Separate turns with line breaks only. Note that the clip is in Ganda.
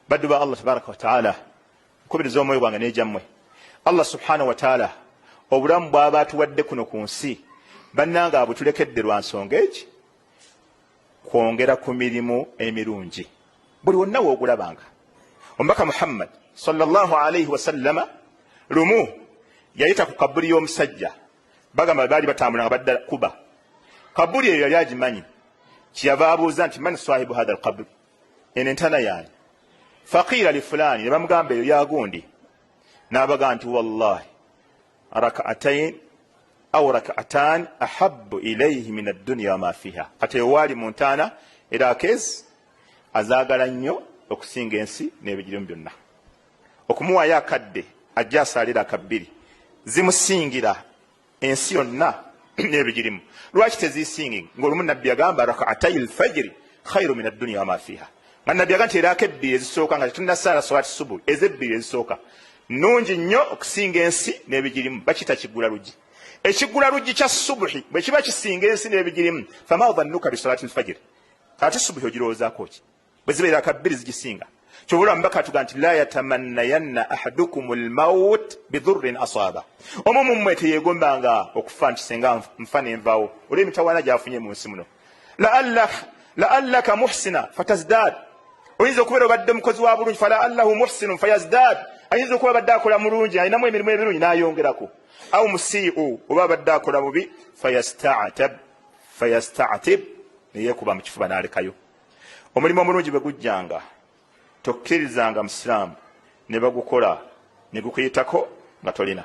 Baddu ba Allah tabaraka wa taala nkubiriza omwoyo gwange n'egyammwe Allah subhanahu wa taala obulamu bw'aba atuwadde kuno ku nsi bannange abutulekedde lwa nsonga egi kwongera ku mirimu emirungi buli wonna woogulabanga omubaka muhammad sallallahu alaihi wasallama lumu yayita ku kabuli y'omusajja bagamba baali batambula nga badda kuba kabuli eyo yali agimanyi kyeyava abuuza nti man swahibu hatha alkabuli eno entana yaani faqiira li fulaani ne bamugamba eyo yagundi n'abaga nti wallahi rakaatain au rakaatan ahabu ilaihi min adduniya wama fiha kati eyo waali mu ntaana era akeezi azaagala nnyo okusinga ensi n'ebigirimu byonna okumuwaayo akadde ajja asaalira akabbiri zimusingira ensi yonna nebigirimu lwaki tezisingi ngaolumu nabbi yagamba rakaatai lfajiri khairu min adduniya wama fiha nga nabbi yaga nti eraako ebbiri ezisooka nga tetunasaala swati subu ezebbiri ezisooka nungi nnyo okusinga ensi nebigirimu bakita kigula luggi ekigula luggi kya subuhi bwekiba kisinga ensi nebigirimu fama dhannuka bisalati lfajiri ate subuhi ogirowoozaako ki bwe zibeera ka bbiri zigisinga kyova olaba mubaka atuga nti la yatamannayanna ahadukum lmaut bidhurrin asaaba omu mummwe teyegombanga okufa nti senga nfa nenvawo olw emitawaana gyafunye mu nsi muno laallaka muhsina fatazdad oyinza okubeera obadde omukozi wa bulungi fala allahu muhsinu fayazdad ayinza okuba abadde akola mulungi alinamu emirimu ebirungi nayongerako au musiiu oba abadde akola bubi fayastatib neyekuba mu kifuba nalekayo omulimu omulungi bwe gujjanga tokkirizanga musiraamu ne bagukola ne gukuyitako nga tolina